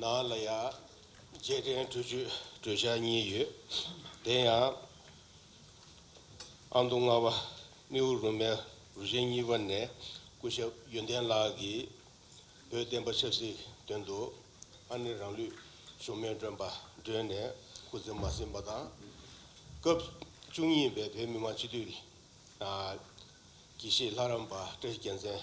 ནང་ལ་ཡང་རྗེས་དྲན་གྲོས་ཆོད་གྲོས་འཆར་གཉིས་ཡོད། དེ་ཡང། ཨ་མདོ་རྔ་བ་རྨེའུ་རུ་མའི་རུ་ཆེན་གཉིས་པ་ནས་སྐུ་ཞབས་ཡོན་ཏན་ལགས་ཀྱིས་བོད་བསྟན་པ་ཆབ་སྲིད་དོན་དུ་ཨ་ནེ་རང་ལུས་ཞུམ་མེད་བཀྲོན་པ་བསྒྲོན་ནས་སྐུ་ཚེ་མ་ཟིན་པ་དང། སྐབས་བཅུ་གཉིས་པའི་བོད་མི་མང་སྤྱི་འཐུས། དགེ་བཤེས་ལྷ་རམས་པ་བཀྲ་ཤིས་རྒྱལ་མཚན།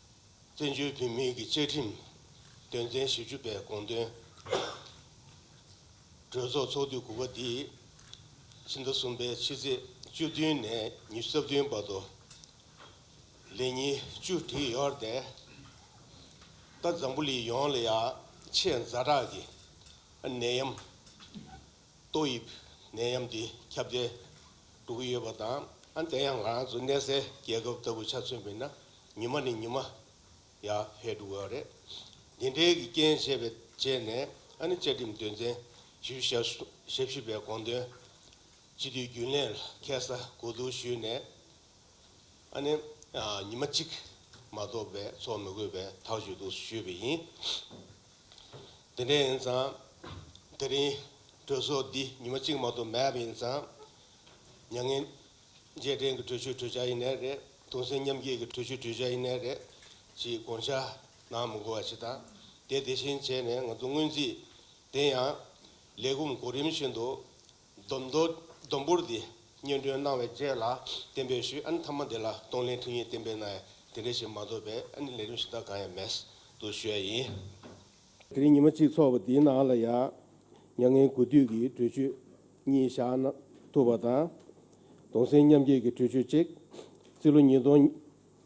བཙན་བྱོལ་བོད་མིའི་གི་བཅའ་ཁྲིམས་དོན་ཚན་བཞི་བཅུ་པའི་དགོངས་དོན། གྲོས་ཚོགས་ཚོགས་དུས་དགུ་པ་འདིའི་ཕྱི་ཟླ་གསུམ་པའི་ཕྱི་ཚེས་བཅུ་བདུན་ནས་ཉིས་སྟོང་རྩ་བདུན་བར་དུ་ལས་ཉིན་བཅུ་དྲུག་ཡོལ་ཏེ། རྟ་བཟང་པོ་ལི་ཡོང་ལ་ཡ་ཆེས་འཛའ་དྲག་གི་ནད་ཡམས། ཏོག་དབྱིབས་ནད་ཡམས་འདི་ཁྱབ་གདལ་འགྲོ་གི་ཡོད་པ་དང་ཨ་འདི་ཡང་རང་ཚོ་གནས་སའི་རྒྱལ་ཁབ་ལྟ་བུ་ཆ་མཚོན་པས་ན་ཉི་མ་ནས་ཉི་མ་ཡར་འཕེལ་འགྲོ་གི་ཡོད་རེད། འདི་འདྲའི་གི་རྐྱེན་བྱས་པའི་རྗེས་ནས་ཨ་ནི་བཅའ་ཁྲིམས་དོན་ཚན་བཞི་བཞི་ཞབས་ཞུ་པའི་དགོངས་དོན་སྤྱི་འཐུས་རྒྱུན་ལས་ལ་ཁྱད་གསར་གོ་བསྡུར་ཞུས་ནས་ཨ་ནི་ཉི་མ་གཅིག་མ་གཏོགས་པའི་འཚོགས་མི་དགོས་པའི་ཐག་གཅོད་དུ་ཞུས་པ་ཡིན། དེ་འདྲ་ཡིན་ཙང། དེ་རིང། གྲོས་ཚོགས་འདི་ཉི་མ་གཅིག་མ་གཏོགས་མེད་པ་ཡིན་ཙང། མྱ་ངན། རྗེས་དྲན་གྱི་གྲོས་ཆོད་གྲོས་འཆར་ཡེ་ནས་རེད། གདུང་སེམས་མཉམ་སྐྱེད་ཀྱི་གྲོས་ཆོད་གྲོས་འཆར་ཡེ་ནས་རེད། ཅེས་དགོངས་འཆར་གནང་མི་དགོས་པ་ཞིག་དང། དེ་དེ་བཞིན་བྱས་ནས་ང་ཚོ་སྔོན་རྩིས། དེ་ཡང། ལས་ཁུངས་གོ་རིམ་བཞིན་དུ། སྡོམ་མདོ་སྡོམ་པོར་འདི་སྙན་སྒྲོན་གནང་བའི་རྗེས་ལ་བསྟན་པའི་ཤུལ་ཨ་ནི་ཐ་མ་འདི་ལ་གཏོང་ལེན་ཐུགས་ཡིན་བསྟན་པའི་ནའི་དེ་འདྲ་ཞིག་མ་འདུག་པས་ཨ་ནི་ལས་རིམ་གཞི་བདག་གང་ཡང་མེད་དུ་བཤོལ་ཡིན། དེ་རིང་ཉི་མ་གཅིག་ཚོགས་པ་འདིའི་ནང་ལ་ཡང་མྱ་ངན་གུས་འདུད་ཀྱི་གྲོས་ཆོད་གཉིས་བཞག་ན་ཐུབ་པ་དང། གདུང་སེམས་མཉམ་སྐྱེད་ཀྱི་གྲོས་ཆོད་གཅིག། སྤྱི་ལོ་ཉིས་སྟོང་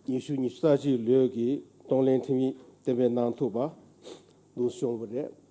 ཉི་ཤུ་ཉི་རྩ་གཅིག་ལོའི་གི་གཏོང་ལེན་ཐིམ་ཡིག་བསྟན་པའི་ནང་ཐུབ་པ་འདུག་བྱུང་བ་རེད།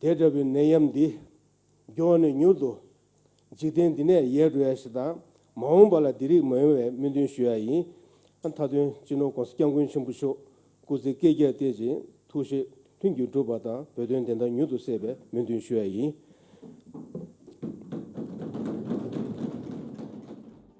དེ་འདྲ་བའི་ནད་ཡམས་འདི་མགྱོགས་ནས་མྱུར་དུ་འཇིག་རྟེན་འདི་ནས་ཡལ་འགྲོ་ཡ་ཞེས་དང་མ་འོངས་པ་ལ་འདི་རིགས་མ་ཡོང་བའི་སྨོན་འདུན་ཞུ་ཡ་ཡིན། མཐའ་དོན་སྤྱི་ནོར ྋགོང་ས ྋསྐྱབས་མགོན་ཆེན་པོ་མཆོག་སྐུ་ཚེ་བསྐལ་བརྒྱར་བརྟན་ཅིང་ཐུགས་བཞེད་མཐུན་འགྱུར་འགྲུབ་པ་དང་བོད་དོན་བདེན་མཐའ་མྱུར་དུ་གསལ་བའི་སྨོན་འདུན་ཞུ་ཡ་ཡིན།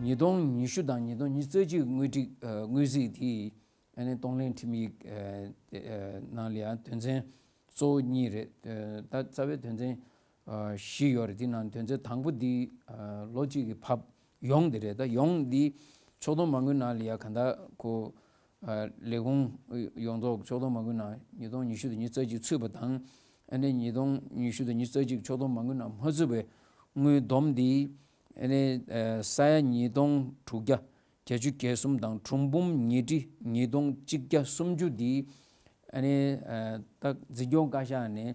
ཉིས་སྟོང་ཉི་ཤུ་དང་ཉིས་སྟོང་ཉིས་བརྩེགས་ཀྱི་དངོས་སྒྲིག་དངོས་གཟིགས་དེ་གཏོང་ལེན་ཁྲིམས་ཡིག་ནང་ལའང་དོན་ཚན་གཙོ་བོ་གཉིས་རེད། ད་རྩ་བའི་དོན་ཚན་བཞི་ཡོད་རེད་དེའི་ནང་དོན་ཚན་དང་པོ་འདི་ལོ་གཅིག་གི་བབ་ཡོངས་དེ་རེད། ད་ཡོངས་འདི་ཕྱོགས་སྡོམ་མ་དངུལ་ནང་ལའང་གང་དག་གོ། ལས་ཁུངས་ཡོངས་རྫོགས་ཕྱོགས་བསྡོམས་མ་དགོས་ན་ཉིས་སྟོང་ཉི་ཤུ་དང་ཉིས་རྩ་གཅིག་ཚུད་པ་དང། ཉིས་སྟོང་ཉི་ཤུ་དང་ཉིས་རྩ་གཅིག་ཕྱོགས་བསྡོམས་མ་དགོས་ན་མ་ཚུད་པའི་དངུལ་བསྡོམས་འདི། ས་ཡ་ཉིས་སྟོང་དྲུག་བརྒྱ་གྱ་བཅུ་གྱ་གསུམ་དང་གྲུམ་བུམ་ཉིས་ཁྲི་ཉིས་སྟོང་གཅིག་བརྒྱ་སུམ་ཅུ་འདི། རྟགས་འཛིན་སྐྱོང་བཀའ་ཤག་ནས་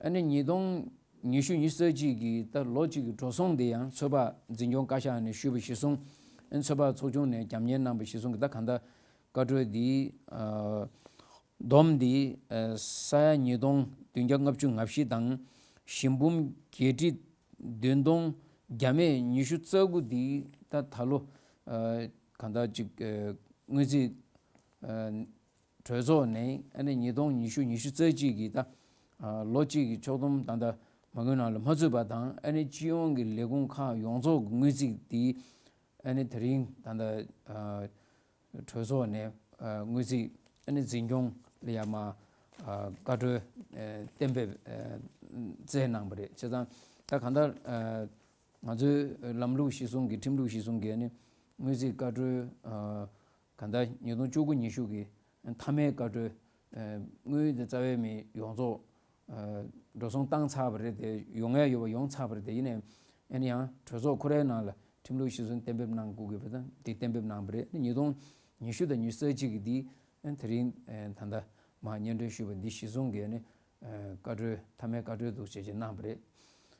ཨ་ནི་ཉིས་སྟོང་ཉི་ཤུ་ཉིས་བརྩེགས་གཅིག་གི་ལྟར་ལོ་གཅིག་གི་འགྲོ་སོང་འདི་ཡང་ཚོད་དཔག་འཛིན་སྐྱོང་བཀའ་ཤག་ནས་ཞུས་པ་གཞི་བཟུང། ཚོད་དཔག་ཚོགས་ཆུང་ནས་རྒྱབ་གཉེར་གནང་པ་གཞི་བཟུང་གི་ད་ག་ཟླ་བཀའ་འཁྲོལ་འདིའི་བསྡོམས་འདི་ས་ཡ་ཉིས་སྟོང་བདུན་བརྒྱ་ལྔ་བཅུ་ང་བཞི་དང་བཞི་འབུམ་བརྒྱད་ཁྲི་བདུན་སྟོང་བརྒྱ་མེད་ཉི་ཤུ་རྩ་དགུ་འདི་ད་ད་ལོ་ག་ཟླ་གཅིག་དངུལ་རྩིས་གྲོས་ཚོགས་ནས་ཨ་ནེ་ཉིས་སྟོང་ཉི་ཤུ་ཉི་ཤུ་རྩ་གཅིག་གི་ད་ལོ་གཅིག་གི་ཕྱོགས་བསྡོམས་ད་ལྟ་མ་དངུལ་ནང་ལ་མ་ཚུད་པ་དང་ཨ་ནེ་སྤྱི་ཡོངས་ཀྱི་ལས་ཁུངས་ཁག་ཡོངས་རྫོགས་ཀྱི་དངུལ་རྩིས་དེ་ཨ་ནེ་དེ་རིང་ད་ལྟ་གྲོས་ཚོགས་ནས་དངུལ་རྩིས་ཨ་ནེ་འཛིན་སྐྱོང་ལ་ཡ་མ་བཀའ་འཁྲོལ་གཏན་འབེབས་སྩལ་གནང་བ་རེད་བྱས་ཙང་ད་གང་ལྟར་ང་ཚོའི་ལམ་ལུགས་གཞི་བཟུང་གིས་ཁྲིམས་ལུགས་གཞི་བཟུང་གིས་ཨ་ནེ་དངུལ་རྩིས་བཀའ་འཁྲོལ་གང་ལྟར་ཉིས་སྟོང་བཅུ་དགུ་ཉི་ཤུ་གི་མཐའ་མའི་བཀའ་འཁྲོལ་དངུལ་དེ་རྩ་བའི་མི་ཡོངས་རྫོགས་འགྲོ་སོང་བཏང་ཚར་བ་རེད་དེ་ཡོང་ངེས་ཡོད་པ་ཡོང་ཚར་བ་རེད་དེ་ཡིན་ནའི་ཡིན་ཡང་གྲོས་ཚོགས་ཁོ་རའི་ནང་ལ་ཁྲིམས་ལུགས་ཤིག་གསུམ་གཏན་འབེབས་གནང་དགོས་གི་དང་དེ་གཏན་འབེབས་གནང་བ་རེད་ཉིས་སྟོང་ཉི་ཤུ་དང་ཉི་ས་གཅིག་གི་འདི་དེ་རིང་ད་ལྟ་མ་སྙན་སྒྲོན་ཞུས་པ་འདི་གཞི་བཟུང་གིས་ནི་བཀའ་འཁྲོལ་མཐའ་མའི་བཀའ་འཁྲོལ་འདུག་བྱས་བྱས་གནང་བ་རེད།